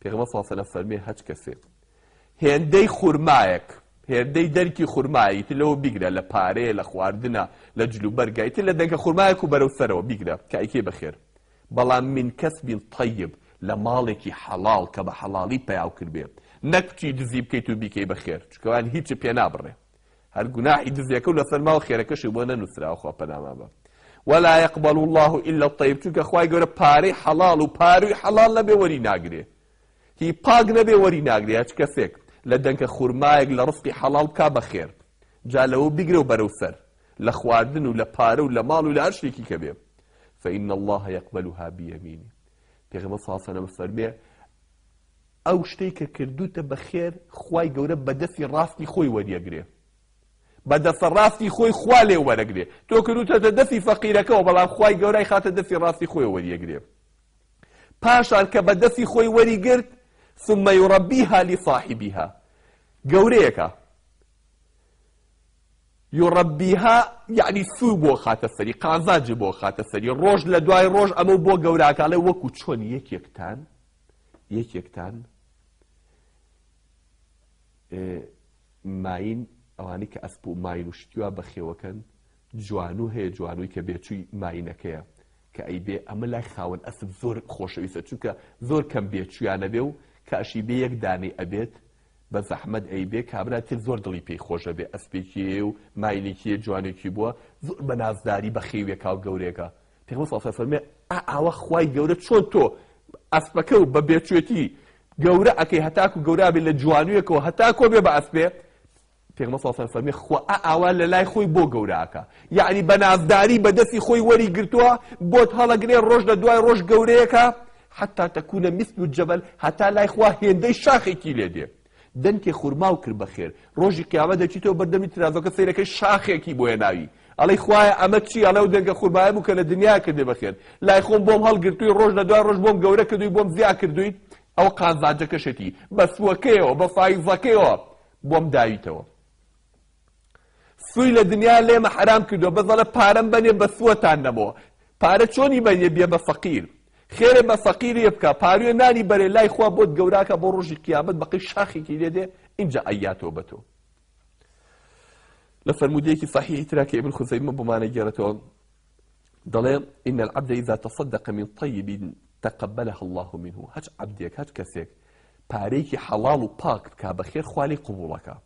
پێغەمبەر صلی اللە علیە وسلم فەرمووی هەچ کەسێک هێندەی خورمایەک هێندەی دەرکی خورمایە ئیتر لەوە بیگرە لە پارەیە لە خواردنە لە جل و بەرگە ئیتر لە دەنکە خورمایەک و بەرەو سەرەوە بیگرە کە ئەیکەی بەخێر بەڵام من کەسبی طیب لە ماڵێکی حەڵاڵ کە بە حەڵاڵی پیاو کردبێ نەک بچی دزی بکەیت و بیکەی بەخێر چونکە ئەوان هیچت پێ نابڕێ هەر گوناحی دزێکەو لەسەر ماو خێرەکەشی بۆ نەنوسراوە خوا پەنامان بە ولا يقبل الله الا الطيب چونکە خوای گەورە پارەی حەڵاڵ و پاروی حەڵاڵ نەبێ وەری ناگرێ هی پاک نەبێ وەری ناگرێ هەچ کەسێک لە دەنکە خورمایەک لە ڕزقی حەڵاڵ بکا بەخێر جا لەوە بیگرە و بەرەو سەر لە خواردن و لە پارە و لە ماڵ و لە هەر شتێکی کە بێ فإن الله يقبلها بيمينه پێغەمبەر صلی الله عليه وسلم فەرمێ ئەو شتەی کە کردوتە بە خێر خوای گەورە بە دەسی ڕاستی خۆی وەریەگرێ بە دەسە ڕاستی خۆی خوا لێ وەرەگرێ تۆ کردوتەتە دەسی فەقیرەکەەوە بەڵام خوای گەورای خاتە دەسی ڕاستی خۆی وەریەگرێ پاشان کە بە دەسی خۆی وەری گرت ثم يربيها لصاحبها گەورەیەکە یڕبیها یعنی سوو بۆ خاتە سەری قازانجی بۆ خاتە سەری ڕۆژ لە دوای ڕۆژ ئەمە بۆ گەوراکەڵێ وەکو چۆن یەکێکتان یەکێکتان ماین ئەوانی کە ئەسپ و ماین و شتیوا بەخێوەکەن جوانو هەیە جوانوی کە بێچووی ماینەکەیە کە ئەی بێ ئەمە لای خاوەن ئەسب زۆر خۆشەویستە چونکە زۆر کەم بێ چویانە بێ و کاشی بێ یەک دانەی ئەبێت بە زەحمەت ئەی بێ کابرا تر زۆر دڵی پێی خۆشە بێ ئەسپێکی و ماینێکی جوانێکی بووە زۆر بە نازداری بە خێوێکا و گەورێکە پێغەمبەر صلی اللە علیە و سلم فەرمووی، ئا ئاوا خوای گەورە چۆن تۆ ئەسپەکە و بە بێچێتی گەورە ئەکەی هەتاکو گەورابێ لە جوانوێکەوە هەتا کۆبێ بە ئەسپێ، پێغەمبەر صلی اللە علیە و سلم فەرمووی، خوا ئا ئاوا لە لای خۆی بۆ گەورە ئەکا، یەعنی بە نازداری بە دەستی خۆی وەری گرتووە بۆت هەڵەگرێ رۆژ لە دوای رۆژ گەورەیەکە، حتی تکون مثل الجبل هەتا لای خوا هێندەی شاخێکی لێ دێ، دەنکێ خورماو کرد بە خێر. ڕۆژی قیامەت دەچیتەوە بەر دەمی ترازۆکە سەیرەکەی شاخێکی بۆ هێناوی ئەڵێی خوایە ئەمە چیە ئەڵێ ئەو دەنکە خورمایە بوو کە لە دنیایا کردی بە خێر لای خۆم بۆم هەڵگرتووی ڕۆژ لە دوای ڕۆژ بۆم گەورە کردووی بۆم زیا کردوویت ئەوە قازانجەکەشێتی بە سووەکەیەوە بە فایزەکەیەوە بۆم داویتەوە. سوی لە دنیا لێمە حەرام کردوە بەس ئەڵێ پارەم بەنێ بە سوەتان نەمۆ پارە چۆنی بەنێ بیە بە فەقیر خێرێ بە فەقیرێ بکە پاروێ نانی بەرێ لای خوا بۆت گەوراکە بۆ ڕۆژی قیامەت بەقەی شاخێکی لێ دێ ئینجا ئەیاتۆ بە تۆ لە فەرمودەیەکی صحیحی ترا کە ابن خزیمە بۆمانە گێرەتەوە دەڵێ ان العبد اذا تصدق من طيب تقبلها الله منه هەچ عبدێک هەچ کەسێک پارەیەکی حەڵاڵ و پاک بکا بەخێر خوا لێی قبوڵەکە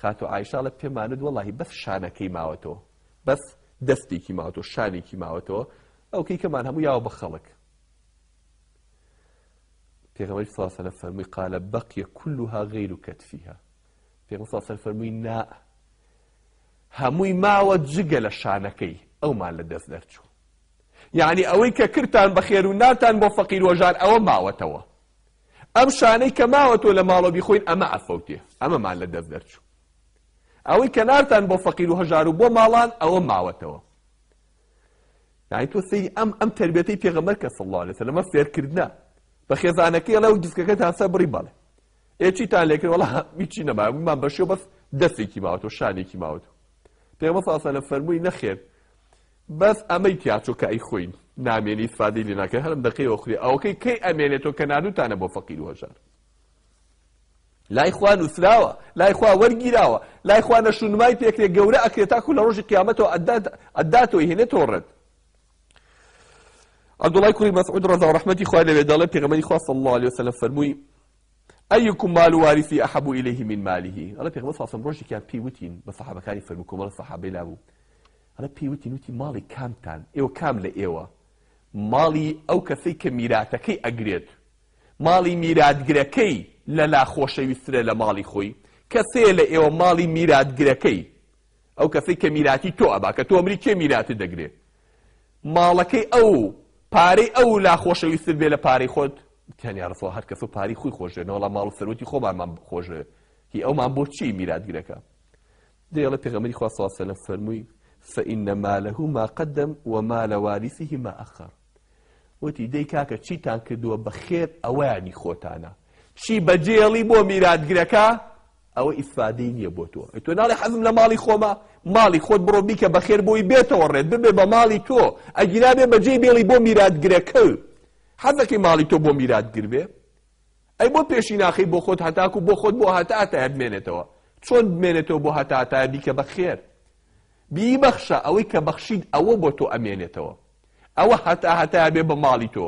خاتو ئایشاڵە پێمانت وەڵاهی بەس شانەکەی ماوەتەوە بەس دەستێکی ماوەتەوە شانێکی ماوەتەوە ئەوکەی کەمان هەموو یاوە بە خەڵک پێغەمەری ساسەە فەرمووی قالە بەقیە کلها غیر و کەتفیها پێغم ساسەر فەرمووی نا هەمووی ماوە جگە لە شانەکەی ئەومان لە دەست دەرچوو یعنی ئەوەی کە کرتان بە خێر و ناتان بۆ فەقیر وەژار ئەوە ماوەتەوە ئەم شانەی کە ماوە تۆ لە ماڵەوە بیخۆین ئەمە ئەفەوتێ ئەمەمان لە دەست دەرچوو ئەوەی کە نارتان بۆ فەقیر و هەژار و بۆ ماڵان ئەوە ماوەتەوە یعنی تۆ سەیری ئەم ئەم تربێتەی پێغەمبەر کە صلی الله علیه وسلم ئەمە فێرکردنە بە خێزانەکەی ئەڵێ و دیسکەکەتان سەر بڕی بەڵێ ئێ چیتان لێ کرد وەڵا هیچی نەما من بەشێ بەس دەستێکی ماوەتەوە شانێکی ماوەتەوە پێغەمبەر صلی الله علیه وسلم فەرمووی نەخێر بەس ئەمەی تیاچۆ کە ئەی خۆی نامێنی ئیسفادەی لێ ناکەی هەرم دەقەی ئۆخری ئەوەکەی کەی ئەمێنێتۆ کە ناردوتانە بۆ فەقیر و هەژار لای خوا نوسراوە لای خوا وەرگیراوە لای خوا نەشونمای پێکرێ گەورە ئەکرێت تاکو لە ڕۆژی قیامەتەوە ئەداتۆی هێنێتەوە ڕێت عبدالله کوری مسعود رضا و رحمتی خواه لەوێ دەڵێ پێغەمبەری خوا صلی الله علیه وسلم فەرمووی ئەیکم مال وارثی احب الیه من ماله ئەڵێ پێغەمبەر صلی الله علیه وسلم ڕۆژێکیان پێی وتین بە صحابەکانی فەرموو کۆمەڵە صحابەی لابوو ئەڵێ پێی وتین وتی ماڵی کامتان ئێوە کام لە ئێوە ماڵی ئەو کەسەی کە میراتەکەی ئەگرێت ماڵی میراتگرەکەی لە لا خۆشەویسترە لە ماڵی خۆی کەسەیە لە ئێوە ماڵی میراتگرەکەی ئەو کەسەی کە میراتی تۆ ئەبا کە تۆ ئەمری کێ میراتی دەگرێ ماڵەکەی ئەو پارەی ئەو لا خۆشەویستر بێ لە پارەی خۆت تیانیا ڕسەوە هەر کەس و پاری خۆی خۆشێنەوەڵام ماڵ و سەرۆکی خۆمانمان خۆشێ هی ئەومان بۆ چی میراتگرەکە دەیڵێت پێغەمبەری خوا صلی اللە علیە و سلم فەرمووی، فان ماله ما قدم و مال وارثه ما اخر، وتی، دەی کاکە چیتان کردووە بە خێر ئەوەیان هی خۆتانە، چی بەجێهێڵی بۆ میراتگرەکە ئەوە ئیفادەی نییە بۆ تۆ، ئەی تۆ ناڵێی حەزم لە ماڵی خۆمە، ماڵی خۆت بڕۆ بیکە بە خێر بۆی بێتەوە ڕێت ببێ بە ماڵی تۆ، ئەگینا بێ بەجێی بێڵی بۆ میراتگرەکەو حەزەکەی ماڵی تۆ بۆ میراتگر بێ؟ ئەی بۆ پێشی ناخەی بۆ خۆت هەتاکو بۆ خۆت بۆ هەتا هەتایە بمێنێتەوە چۆن بمێنێتەوە بۆ هەتا هەتایە بیکە بە خێر بیبەخشە ئەوەی کە بەخشیت ئەوە بۆ تۆ ئەمێنێتەوە ئەوە هەتا هەتایە بێ بە ماڵی تۆ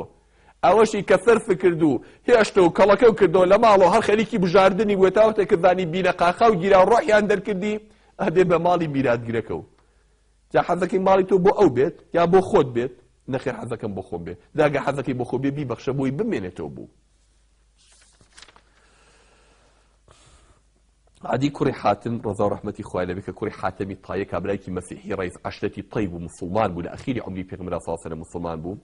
ئەوەشی کە سەرف کرد و هێشتە و کەڵەکە و کردەوە لە ماڵەوە هەر خەریکی بژاردنی بووە تاوەتە کردانی بینە قاقا و گیرا و ڕۆحیان دەرکردی ئەبێ بە ماڵی میراتگرەکە و جا حەزەکەی ماڵی تۆ بۆ ئەو بێت یان بۆ خۆت بێت؟ نەخێر حەزەکەم بۆ خۆم بێت. جا گەر حەزەکەی بۆ خۆی بێت بیبەخشە بۆی بمێنێتەوە بۆ. عەدی کوڕی حاتم ڕەزا و ڕەحمەتی خوای لێ بێ کە کوڕی حاتەمی تایە کابرایەکی مەسیحی ڕەیس عەشرەتی تەی بوو موسڵمان بوو لە ئەخیری عەمری پێغەمبەر صلی اللە علیە و سەلەم موسڵمان بوو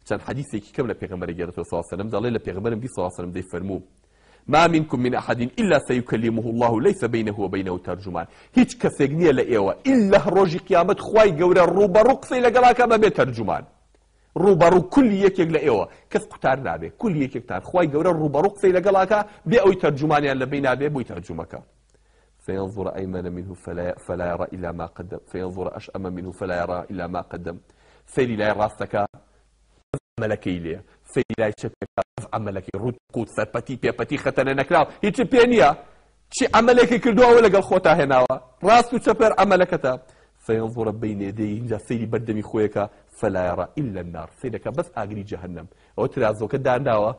چەند حەدیسێکی کەم لە پێغەمبەر ئەگێڕێتەوە صلی اللە علیە و سەلەم دەڵێ لە پێغەمبەرم دی صلی اللە علیە و سەلەم دەیفەرموو ما منکم من احد الا سیکلمه اللە لیس بینه وبینه ترجمان، هیچ کەسێک نیە لە ئێوە الا ڕۆژی قیامەت خوای گەورە ڕووبەڕوو قسەی لەگەڵ ئەکا بەبێ تەرجومان، ڕووبەڕوو کل یەکێک لە ئێوە، کەس قوتار نابێ، کل یەکێکتان خوای گەورە ڕووبەڕوو قسەی لەگەڵ ئەکا بێ ئەوەی تەرجومانیان لە بینە بێ بۆی تەرجومە کا. فینظر ایمن منه فلا یری الا ما قدم فینظر اشام منه فلا یری الا ما قدم، سەیری لای ڕاست ئەکا ئەڤ عەمەلەکەی لێ فەیلای چەپێکراو ئەڤ عەمەلەکەی ڕووت قووت سەرپەتی پێپەتی خەتەنە نەکراو هیچت پێ نییە چی عەمەلێکی کردووە ئەوە لەگەڵ خۆتا هێناوە ڕاست و چەپێر عەمەلەکەتە فینظر بین یدیه ئینجا سەیری بەردەمی خۆی ئەکا فلا یرا الا النار سەیر ئەکا بەس ئاگری جەهەنەم ئەوە ترازۆکە دانراوە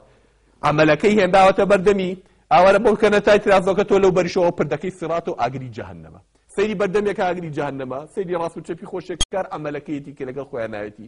عەمەلەکەی هێنراوەتە بەردەمی ئاوارە بەو کەنەتای ترازۆکە تۆ لەو بەریشەوە پردەکەی سیڕات و ئاگری جەهەنەمە سەیری بەردەمێکە ئاگری جەهەنەمە سەیری ڕاست و چەپی خۆشێکار عەمەلەکەیەتی کە لەگەڵ خۆیان ناوێتی